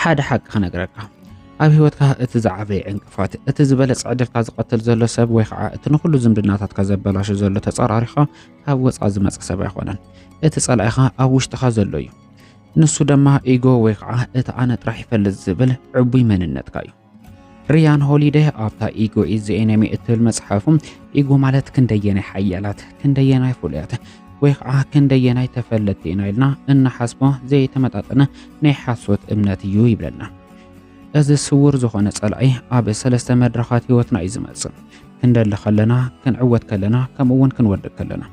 ሓደ ሓቂ ክነግረካ ኣብ ህይወትካ እቲ ዝዓበየ ዕንቅፋት እቲ ዝበለፀ ዕድልካ ዝቐትል ዘሎ ሰብ ወይ ከዓ እቲ ንኩሉ ዝምድናታትካ ዘበላሹ ዘሎ ተፃራሪኻ ካብ ወፃ ዝመፀ ሰብ ኣይኮነን እቲ ፀላኢኻ ኣብ ውሽጥኻ ዘሎ እዩ ንሱ ድማ ኢጎ ወይ ከዓ እቲ ኣነ ጥራሕ ይፈልጥ ዝብል ዕቡይ መንነትካ እዩ ሪያን ሆሊደ ኣብታ ኢጎ ኢዝ ዘ ኤነሚ እትብል መጽሓፉ ኢጎ ማለት ክንደየናይ ሓያላት ክንደየናይ ፍሉያት ወይ ከዓ ክንደየናይ ተፈለጥቲ ኢና ኢልና እንሓስቦ ዘይተመጣጠነ ናይ ሓሶት እምነት እዩ ይብለና። እዚ ስውር ዝኾነ ጸላኢ ኣብ ሰለስተ መድረኻት ህይወትና እዩ ዝመጽእ። ክንደሊ ከለና፣ ክንዕወት ከለና፣ ከምኡ እውን ክንወድቅ ከለና።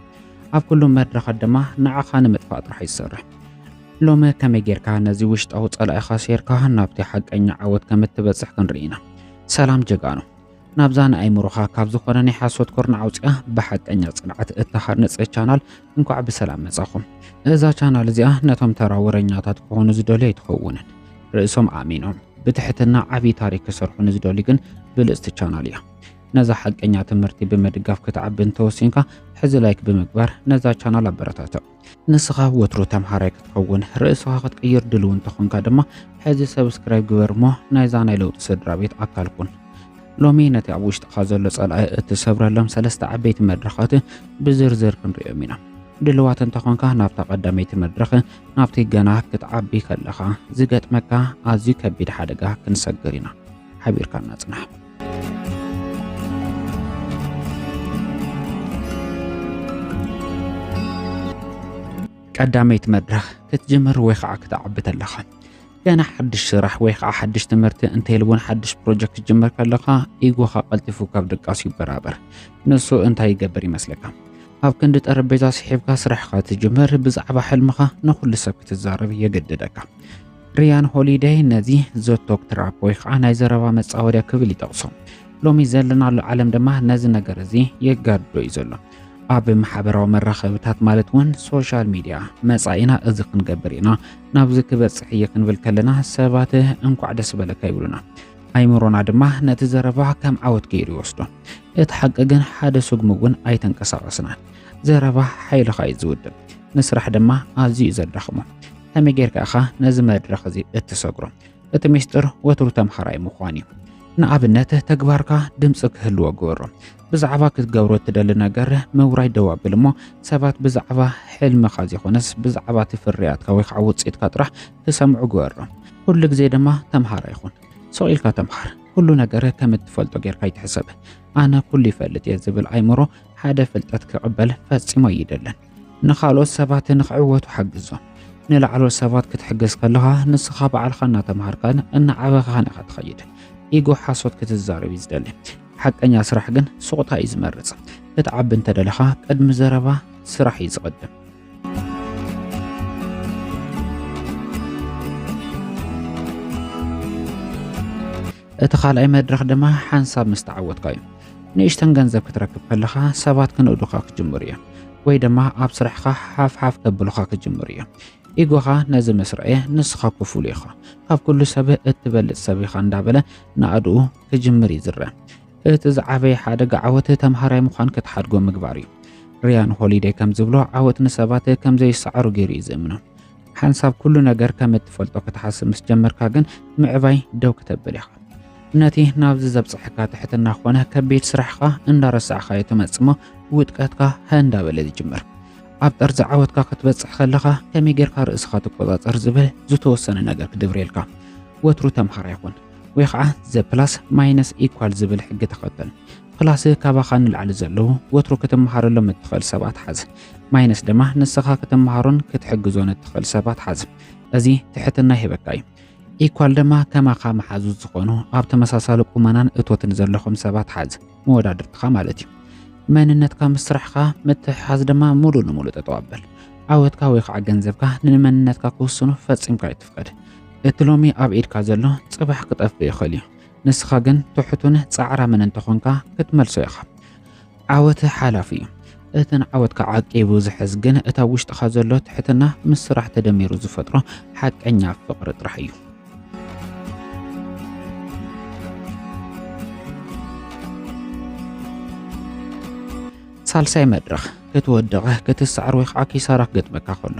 ኣብ ኩሉም መድረኻት ድማ ንዓኻ ንምጥፋእ ጥራሕ ይሰርሕ። ሎሚ ከመይ ጌርካ ነዚ ውሽጣዊ ጸላኢኻ ሴርካ ናብቲ ሓቀኛ ዓወት ከም እትበጽሕ ክንርኢ ኢና። ሰላም ጀጋኑ! ናብዛ ንኣይምሮኻ ካብ ዝኾነ ናይ ሓሶት ኮርና ኣውጽኣ ብሓቀኛ ጽንዓት እትሃንጽ ቻናል እንኳዕ ብሰላም መጻኹም። እዛ ቻናል እዚኣ ነቶም ተራ ወረኛታት ክኾኑ ዝደልዩ ኣይትኸውንን። ርእሶም ኣሚኖም ብትሕትና ዓብዪ ታሪክ ክሰርሑ ንዝደልዩ ግን ብልጽቲ ቻናል እያ። ነዛ ሓቀኛ ትምህርቲ ብምድጋፍ ክትዓቢ እንተወሲንካ ሕዚ ላይክ ብምግባር ነዛ ቻናል ኣበረታትዕ። ንስኻ ወትሩ ተምሃራይ ክትኸውን ርእስኻ ክትቅይር ድልው እንተኾንካ ድማ ሕዚ ሰብስክራይብ ግበር እሞ ናይዛ ናይ ለውጢ ስድራ ቤት ኣካል ኩን። ሎሚ ነቲ ኣብ ውሽጥኻ ዘሎ ጸላኢ እትሰብረሎም ሰለስተ ዓበይቲ መድረኻት ብዝርዝር ክንርእዮም ኢና። ድልዋት እንተኾንካ ናብታ ቀዳመይቲ መድረኽ ናብቲ ገና ክትዓቢ ከለኻ ዝገጥመካ ኣዝዩ ከቢድ ሓደጋ ክንሰግር ኢና። ሓቢርካና ጽናሕ። ቀዳመይቲ መድረኽ ክትጅምር ወይ ከዓ ክትዓቢ ተለኻ ገና ሓድሽ ስራሕ ወይ ከዓ ሓድሽ ትምህርቲ እንተይል እውን ሓድሽ ፕሮጀክት ክትጅምር ከለኻ ኢጎኻ ቀልጢፉ ካብ ድቃሱ ይበራበር ንሱ እንታይ ይገብር ይመስለካ ኣብ ክንዲ ጠረጴዛ ስሒብካ ስራሕኻ ትጅምር ብዛዕባ ሕልምኻ ንኩሉ ሰብ ክትዛረብ የገድደካ ሪያን ሆሊደይ ነዚ ዘቶክ ትራፕ ወይ ከዓ ናይ ዘረባ መፃወድያ ክብል ይጠቕሶ። ሎሚ ዘለናሉ ዓለም ድማ ነዚ ነገር እዚ የጋድዶ እዩ ዘሎ። ኣብ ማሕበራዊ መራኸብታት ማለት እውን ሶሻል ሚድያ መፃኢና እዚ ክንገብር ኢና ናብዚ ክበፅሕ እየ ክንብል ከለና ሰባት እንኳዕ ደስ በለካ ይብሉና። ኣይምሮና ድማ ነቲ ዘረባ ከም ዓወት ገይሩ ይወስዶ። እቲ ሓቂ ግን ሓደ ስጉሚ እውን ኣይተንቀሳቐስናን። ዘረባ ሓይልኻ እዩ ዝውድብ፣ ንስራሕ ድማ ኣዝዩ እዩ ዘዳኽሞ። ከመይ ጌርካ ኢኻ ነዚ መድረኽ እዚ እትሰግሮ? እቲ ሚስጥር ወትሩ ተምሃራይ ምዃን እዩ። ንኣብነት ተግባርካ ድምፂ ክህልዎ ግበሮ። ብዛዕባ ክትገብሮ እትደሊ ነገር ምውራይ ደው ኣብል እሞ ሰባት ብዛዕባ ሕልምኻ ዘይኮነስ ብዛዕባ እቲ ፍርያትካ ወይ ከዓ ውፅኢትካ ጥራሕ ክሰምዑ ግበሮ። ኩሉ ግዜ ድማ ተምሃራይ ኹን። ስቕ ኢልካ ተምሃር። ኩሉ ነገር ከም እትፈልጦ ጌርካ ኣይትሕሰብ። ኣነ ኩሉ ይፈልጥ እየ ዝብል ኣይምሮ ሓደ ፍልጠት ክቕበል ፈፂሙ ኣይደልን። ንኻልኦት ሰባት ንኽዕወቱ ሓግዞም። ንላዕለዎት ሰባት ክትሕግዝ ከለኻ ንስኻ ባዕልኻ እናተምሃርካን እናዓበኻን ኢኻ ትኸይድ። ኢጎ ሓሶት ክትዛረብ እዩ ዝደሊ። ሓቀኛ ስራሕ ግን ሱቕታ እዩ ዝመርጽ። ክትዓቢ እንተደለኻ ቅድሚ ዘረባ ስራሕ እዩ ዝቕድም። እቲ ካልኣይ መድረኽ ድማ ሓንሳብ ምስ ተዓወትካ እዩ። ንእሽተን ገንዘብ ክትረክብ ከለኻ ሰባት ክንእዱኻ ክጅምሩ እዮም ወይ ድማ ኣብ ስራሕኻ ሓፍሓፍ ከብሉኻ ክጅምሩ እዮም ኢጎኻ ነዚ ምስ ረኣየ ንስኻ እኮ ፍሉይ ኢኻ ካብ ኩሉ ሰብ እትበልፅ ሰብ ኢኻ እንዳበለ ንኣድኡ ክጅምር እዩ ዝረአ እቲ ዝዓበየ ሓደጋ ዓወት ተምሃራይ ምዃን ክትሓድጎ ምግባር እዩ ሪያን ሆሊደይ ከም ዝብሎ ዓወት ንሰባት ከም ዘይሰዓሩ ገይሩ እዩ ዝእምኖ ሓንሳብ ኩሉ ነገር ከም እትፈልጦ ክትሓስብ ምስ ጀመርካ ግን ምዕባይ ደው ክተብል ኢኻ ነቲ ናብዚ ዘብፅሐካ ትሕትና ኮነ ከቢድ ስራሕኻ እንዳረሳዕኻዮ ትመፅሞ ውድቀትካ እንዳበለ ዝጅምር ኣብ ጠርዚ ዓወትካ ክትበፅሕ ከለኻ ከመይ ጌርካ ርእስኻ ትቆፃፀር ዝብል ዝተወሰነ ነገር ክድብርየልካ ወትሩ ተምሃራ ይኹን ወይ ከዓ ዘ ፕላስ ማይነስ ኢኳል ዝብል ሕጊ ተኸተል ፕላስ ካባኻ ንላዕሊ ዘለዉ ወትሩ ክትምሃረሎም እትኽእል ሰባት ሓዝ ማይነስ ድማ ንስኻ ክትመሃሮን ክትሕግዞን እትኽእል ሰባት ሓዝ። እዚ ትሕትና ይህበካ እዩ። ኢኳል ድማ ከማኻ መሓዙት ዝኾኑ ኣብ ተመሳሳሊ ቁመናን እቶትን ዘለኹም ሰባት ሓዝ፣ መወዳድርትኻ ማለት እዩ። መንነትካ ምስ ስራሕኻ ምትሕሓዝ ድማ ሙሉእ ንሙሉእ ጠጠው ኣበል። ዓወትካ ወይ ከዓ ገንዘብካ ንመንነትካ ክውስኑ ፈፂምካ ይትፍቀድ። እቲ ሎሚ ኣብ ኢድካ ዘሎ ጽባሕ ክጠፍእ ይኽእል እዩ። ንስኻ ግን ትሑቱን ጻዕራምን እንተኾንካ ክትመልሶ ኢኻ። ዓወት ሓላፍ እዩ። እቲ ንዓወትካ ዓቂቡ ዝሕዝ ግን እታ ውሽጥኻ ዘሎ ትሕትና ምስ ስራሕ ተደሚሩ ዝፈጥሮ ሓቀኛ ፍቕሪ ጥራሕ እዩ። ሳልሳይ መድረኽ ክትወድቕ ክትሰዓር ወይ ከዓ ኪሳራ ክገጥመካ ከሎ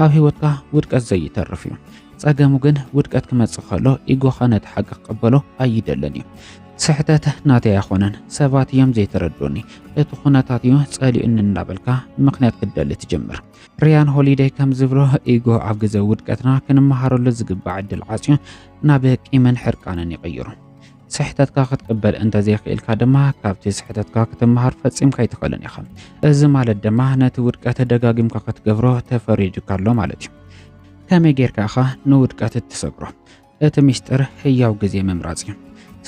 ኣብ ህይወትካ ውድቀት ዘይተርፍ እዩ። ፀገሙ ግን ውድቀት ክመፅእ ከሎ ኢጎኻ ነቲ ሓቂ ክቕበሎ ኣይደልን እዩ። ስሕተት ናተይ ኣይኮነን ሰባት እዮም ዘይተረድኡኒ እቲ ኩነታት እዩ ጸሊኡኒ እንዳበልካ ምክንያት ክትደሊ ትጅምር። ሪያን ሆሊደይ ከም ዝብሎ ኢጎ ኣብ ግዜ ውድቀትና ክንመሃረሉ ዝግባዕ ዕድል ዓጽዩ ናብ ቂምን ሕርቃንን ይቕይሩ። ስሕተትካ ክትቅበል እንተዘይኽኢልካ ድማ ካብቲ ስሕተትካ ክትመሃር ፈጺምካ ኣይትኽእልን ኢኻ። እዚ ማለት ድማ ነቲ ውድቀት ደጋጊምካ ክትገብሮ ተፈሪድካ ኣሎ ማለት እዩ። ከመይ ጌርካ ኢኻ ንውድቀት እትሰግሮ? እቲ ምስጢር ሕያው ግዜ ምምራጽ እዩ።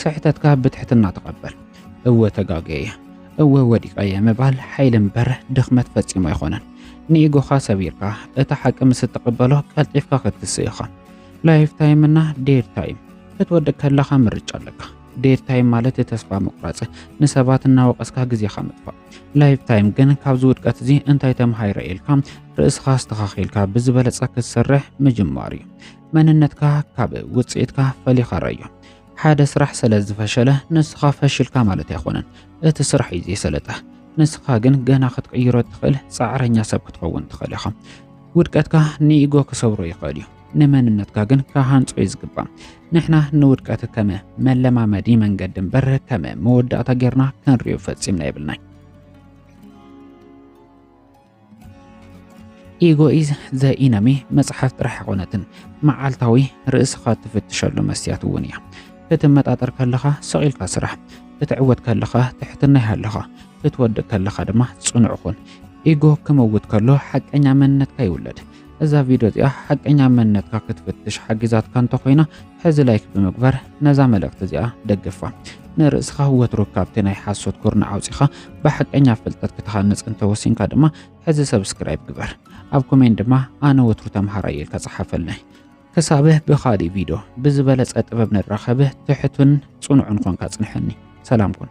ስሕተትካ ብትሕትና ተቐበል። እወ ተጋገየ እየ፣ እወ ወዲቐ እየ ምባል ሓይሊ እምበር ድኽመት ፈጺሙ ኣይኮነን። ንኢጎኻ ሰቢርካ እቲ ሓቂ ምስ እትቕበሎ ቀልጢፍካ ክትስእ ኢኻ። ላይፍ ታይም እና ዴድ ታይም ክትወድቅ ከለኻ ምርጫ ኣለካ። ዴድ ታይም ማለት ተስፋ ምቑራጽ፣ ንሰባት እናወቐስካ ግዜኻ ምጥፋእ። ላይፍ ታይም ግን ካብዚ ውድቀት እዚ እንታይ ተምሃይረ ኢልካ ርእስኻ ኣስተኻኺልካ ብዝበለጸ ክትሰርሕ ምጅማር እዩ። መንነትካ ካብ ውጽኢትካ ፈሊኻ ረዮ። ሓደ ስራሕ ስለ ዝፈሸለ ንስኻ ፈሽልካ ማለት ኣይኮነን። እቲ ስራሕ እዩ ዘይሰለጠ። ንስኻ ግን ገና ክትቅይሮ እትኽእል ጻዕረኛ ሰብ ክትኸውን ትኽእል ኢኻ። ውድቀትካ ንኢጎ ክሰብሮ ይኽእል እዩ፣ ንመንነትካ ግን ክሃንጾ እዩ ዝግባእ። ንሕና ንውድቀት ከም መለማመዲ መንገዲ እምበር ከም መወዳእታ ጌርና ክንሪኦ ፈጺምና የብልናይ። ኢጎ ኢዝ ዘ ኢነሚ መጽሓፍ ጥራሕ ኣይኮነትን መዓልታዊ ርእስኻ ትፍትሸሉ መስትያት እውን እያ ክትመጣጠር ከለኻ ሰቂልካ ስራሕ ክትዕወት ከለኻ ትሕትና ይሃለኻ ክትወድቅ ከለኻ ድማ ጽኑዕ ኹን ኢጎ ክመውት ከሎ ሓቀኛ መንነትካ ይውለድ እዛ ቪድዮ እዚኣ ሓቀኛ መንነትካ ክትፍትሽ ሓጊዛትካ እንተኾይና ሕዚ ላይክ ብምግባር ነዛ መልእኽቲ እዚኣ ደግፋ። ንርእስኻ ወትሩ ካብቲ ናይ ሓሶት ኩርናዕ ኣውፂኻ ብሓቀኛ ፍልጠት ክትሃንፅ እንተወሲንካ ድማ ሕዚ ሰብስክራይብ ግበር። ኣብ ኮሜንት ድማ ኣነ ወትሩ ተምሃራይ እየ ኢልካ ፀሓፈልናይ። ክሳብህ ብኻሊእ ቪድዮ ብዝበለፀ ጥበብ ንራኸብህ ትሕቱን ፅኑዕን ኮንካ ፅንሐኒ። ሰላም ኩን።